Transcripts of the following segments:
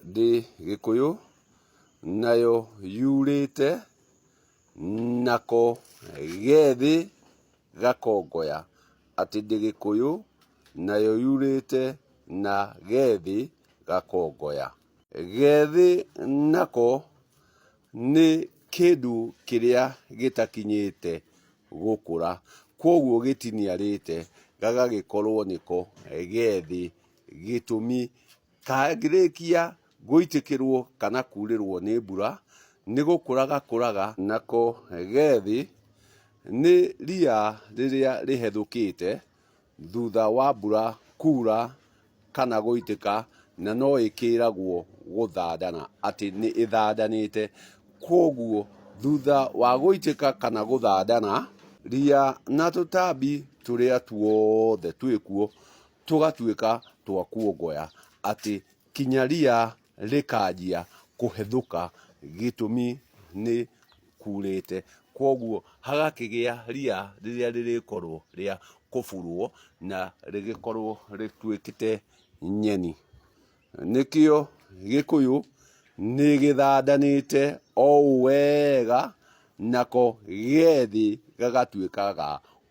ndĩ gĩkũyũ nayo yurĩte nako gethĩ gakongoya atĩ ndĩ gĩkũyũ nayo yurĩte na gethĩ gakongoya gethĩ nako nĩ kĩndũ kĩrĩa gĩtakinyĩte gũkũra kwoguo gĩtiniarĩte gagagĩkorwo nĩko gethĩ gĩtũmi Kangĩrĩkia gũitĩkĩrwo kana kuurĩrwo nĩ mbura, nĩ gũkũra gakũraga. Nako ge thĩ nĩ ria rĩrĩa rĩhethũkĩte thutha wa mbura kuura kana gũitĩka, na no ĩkĩragwo gũthandana, atĩ nĩ ĩthandanĩte. Kwoguo thutha wa gũitĩka kana gũthandana, ria na tũtambi tũrĩa tuothe twĩ kuo tũgatuĩka twa kuongoya atĩ kinya ria rĩkanjia kũhethũka gĩtũmi nĩ kurĩte. Koguo hagakĩgĩa ria rĩrĩa rĩrĩkorwo rĩa kũburwo na rĩgĩkorwo rĩtuĩkĩte nyeni. nĩkĩo gĩkũyũ nĩ gĩthandanĩte o wega nako gethĩ gagatuĩka ga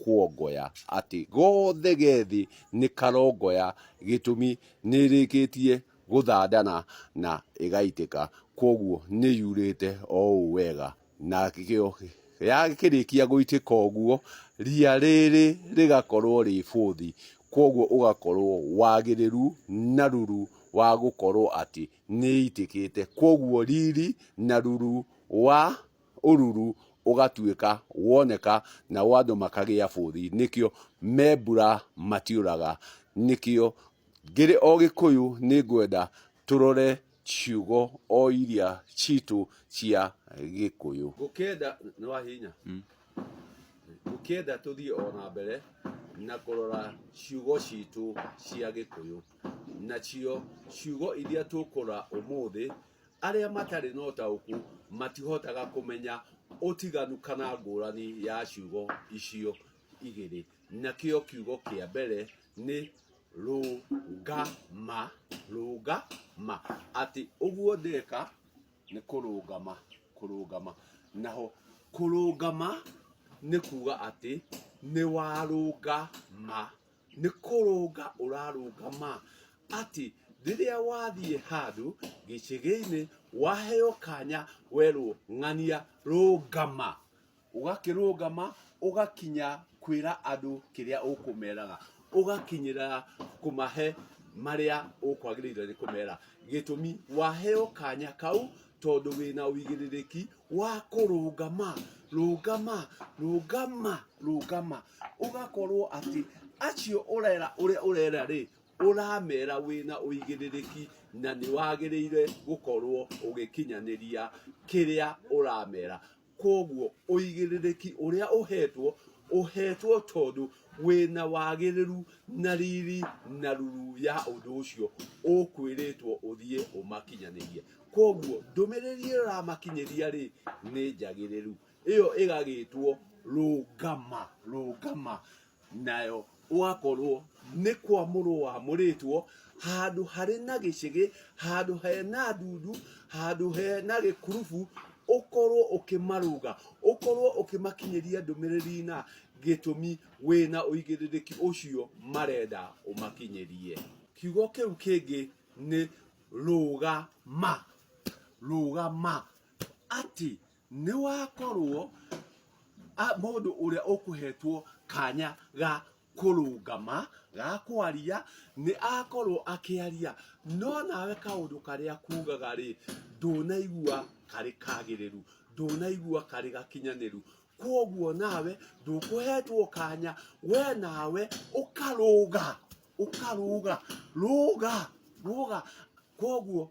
kuongoya atĩ gothe gethĩ nĩ karongoya gĩtũmi nĩ ĩrĩkĩtie gũthandana na ĩgaitĩka kwoguo nĩ yurĩte o ũũ wega. na gĩo- yakĩrĩkia gũitĩka ũguo ria rĩrĩ rĩgakorwo rĩ bũthi kwoguo ũgakorwo wagĩrĩru na ruru wa gũkorwo atĩ nĩ itĩkĩte kwoguo riri na ruru wa ũruru ũgatuĩka woneka na wa andũ makagĩa bũthi nĩkĩo me mbura matiũraga nĩkĩo ngĩrĩ o gĩkũyũ nĩ ngwenda tũrore ciugo o iria citũ cia gĩkũyũ ngũkĩenda nĩ wahinya ngũkĩenda tũthiĩ o na mbere na kũrora ciugo citũ cia gĩkũyũ nacio ciugo iria tũkũra ũmũthĩ arĩa matarĩ na ũtaũku matihotaga kũmenya ũtiganu kana ngũrani ya ciugo icio igĩrĩ nakĩo kiugo kĩa mbere nĩ rũngama rũngama atĩ ũguo ndĩka nĩ kũrũngama kũrũngama naho kũrũngama nĩ kuga atĩ nĩ warũngama nĩ kũrũnga ũrarũngama atĩ rĩrĩa wathiĩ handũ gĩcegeinĩ waheo kanya werwo ng'ania rũngama ũgakĩrũgama ũgakinya kwĩra andũ kĩrĩa ũkũmeraga ũgakinyĩra kũmahe marĩa ũkwagĩrĩirwo nĩ kũmera gĩtũmi waheo kanya kau tondũ wĩna ũigĩrĩrĩki wa kũrũgama rũgama rũgama rũgama ũgakorwo atĩ acio ũrera ũrĩa ũrera rĩ ũramera wĩna ũigĩrĩrĩki na nĩwagĩrĩire gũkorwo ũgĩkinyanĩria kĩrĩa ũramera Kwoguo ũigĩrĩrĩki ũrĩa ũheetwo, ũheetwo tondũ wĩ na wagĩrĩru na riri na ruru ya ũndũ ũcio ũkwĩrĩtwo ũthiĩ ũmakinyanĩrie. Kwoguo ndũmĩrĩri ĩyo ĩramakinyĩria-rĩ, nĩ njagĩrĩru. Ĩyo ĩgagĩtwo rũngama, rũngama. nayo gwakorwo nĩ kwa mũrũ wa mũrĩtwo handũ harĩ na gĩcĩgĩ handũ he na ndundu handũ he na gĩkurubu ũkorwo ũkĩmarũga ũkorwo ũkĩmakinyĩria ndũmĩrĩri na gĩtũmi wĩna ũigĩrĩrĩki ũcio marenda ũmakinyĩrie kiugo kĩu kĩngĩ nĩ rũgama rũgama atĩ nĩ wakorwo a- mũndũ ũrĩa ũkũhetwo kanya ga kũrũngama ga kwaria nĩ akorwo akĩaria no nawe kaũndũ karĩa kugaga rĩ ndũnaigua karĩ kagĩrĩru ndũnaigua karĩ gakinyanĩru kwoguo nawe ndũkũhetwo kanya we nawe ũkarũga ũkarũga rũga rũga kwoguo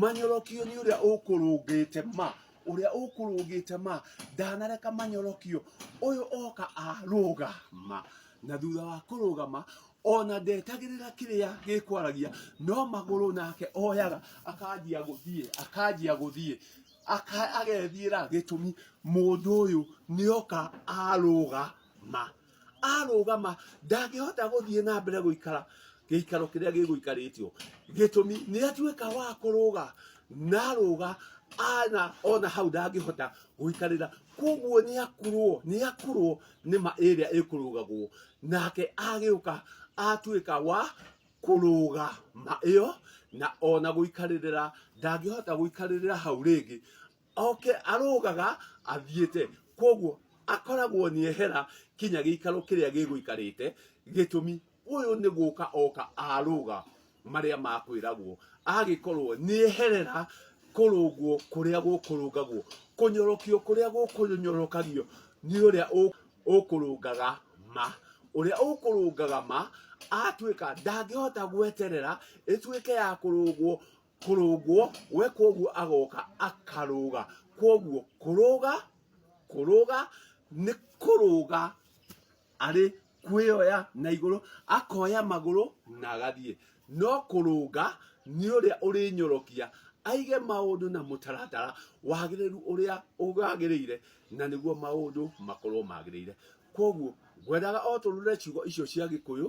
Manyorokio nĩ ũrĩa ũkũrũngĩte ma ũrĩa ũkũrũngĩte ma ndanareka manyorokio ũyũ oka arũgama na thutha wa kũrũgama ona ndetagĩrĩra kĩrĩa gĩkwaragia no magũrũ nake oyaga akanjia gũthiĩ akanjia gũthiĩ agethiĩra gĩtũmi mũndũ ũyũ nĩoka arũgama arũgama ndangĩhota gũthiĩ na mbere gũikara gĩikaro kĩrĩa gĩgũikarĩtio gĩtũmi nĩ atuĩka wa kũrũga na arũga ana ona hau ndangĩhota gũikarĩra koguo nĩ akurwo nĩ akurwo nĩ ma ĩrĩa ĩkũrũgagwo nake agĩũka atuĩka wa kũrũga ma ĩyo na ona gũikarĩrĩra ndangĩhota gũikarĩrĩra hau rĩngĩ oke arũgaga athiĩte koguo akoragwo nĩ ehera kinya gĩikaro kĩrĩa gĩgũikarĩte gĩtũmi ũyũ nĩ gũka oka arũga marĩa makwĩragwo agĩkorwo nĩ eherera kũrũngwo kũrĩa gũkũrũngagwo kũnyorokio kũrĩa gũkũnyorokagio nĩ ũrĩa ũ- ũkũrũngaga ma ũrĩa ũkũrũngaga ma atuĩka ndangĩhota gweterera ĩtuĩke ya kũrũngwo kũrũngwo we kwoguo agoka akarũga kwoguo kũrũga kũrũga nĩ kũrũga arĩ kwĩoya na igũrũ akoya magũrũ na agathiĩ no kũrũnga nĩ ũrĩa ũrĩnyorokia aige maũndũ na mũtaratara wagĩrĩru ũrĩa ũgagĩrĩire na nĩguo maũndũ makorwo magĩrĩire kwoguo ngwendaga o tũrũre ciugo icio cia gĩkũyũ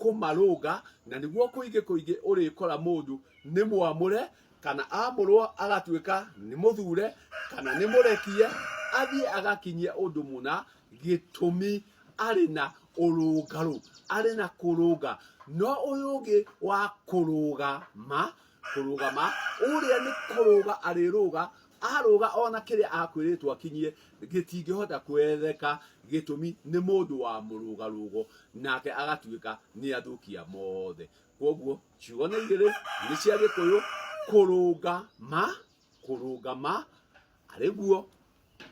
kũmarũnga na nĩguo kũingĩ kũingĩ ũrĩkora mũndũ nĩ mwamũre kana amũrwo agatuĩka nĩ mũthure kana nĩ mũrekie athiĩ agakinyia ũndũ mũna gĩtũmi arĩ na ũrũngarũ arĩ na kũrũnga no ũyũ ũngĩ wa kũrũgama kũrũgama ũrĩa nĩ kũrũga arĩrũga arũga ona kĩrĩa akwĩrĩtwo akinyie gĩtingĩhota kwetheka gĩtũmi nĩ mũndũ wa mũrũgarũgo nake agatuĩka nĩ athũkia mothe kwoguo ciugo nĩ igĩrĩ nĩ cia gĩkũyũ kũrũga ma kũrũngama arĩ guo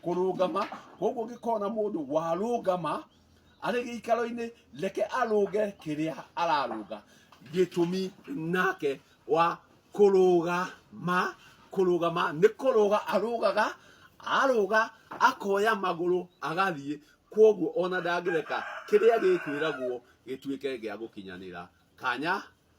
kũrũngama koguo ngĩkona mũndũ warũngama arĩ gĩikaro-inĩ reke arũnge kĩrĩa ararũnga gĩtũmi nake wa kũrũgama kũrũgama nĩ kũrũga arũgaga arũga akoya magũrũ agathiĩ koguo ona ndangĩreka kĩrĩa gĩkwĩragwo gĩtuĩke gĩa gũkinyanĩra kanya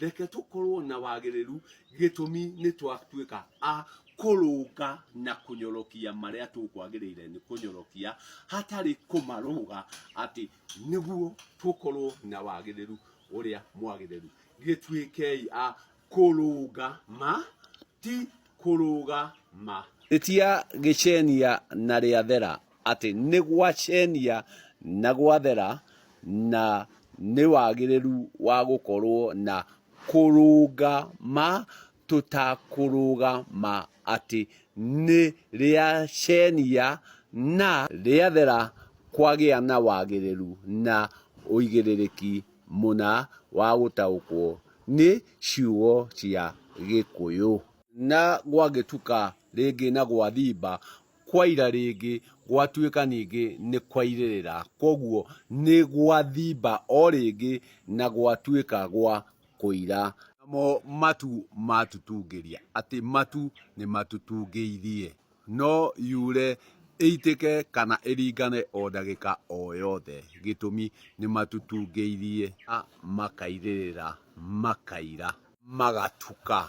Reke tũkorũo na wagĩrĩru gĩtũmi nĩ twatuĩka a kũrũnga na kũnyorokia marĩa tũkwagĩrĩire nĩ kũnyorokia hatarĩ kũmarũga atĩ nĩguo tũkorũo na wagĩrĩru ũrĩa mwagĩrĩru. Gĩtuĩkei a kũrũnga ma ti kũrũga ma. Rĩtia gĩcenia na rĩathera atĩ nĩ gwacenia na gwathera na nĩ wagĩrĩru wa gũkorwo na kũrũga ma tũtakũrũga ma atĩ nĩ rĩacenia na rĩathera kwagĩa na wagĩrĩru na ũigĩrĩrĩki. mũna wa gũtaũkwo nĩ ciugo cia Gĩkũyũ. Na gwagĩtuka rĩngĩ na gwathimba, kwaira rĩngĩ, gwatuĩka ningĩ nĩ kwairĩrĩra. Kwoguo nĩ gwathimba o rĩngĩ na gwatuĩka gwa kũira. Namo matu matutungĩria. Atĩ matu nĩ matutungĩithie. No yure, ĩitĩke kana ĩringane o ndagĩka o yothe gĩtũmi nĩmatutungĩirie na makairĩrĩra makaira. Magatuka.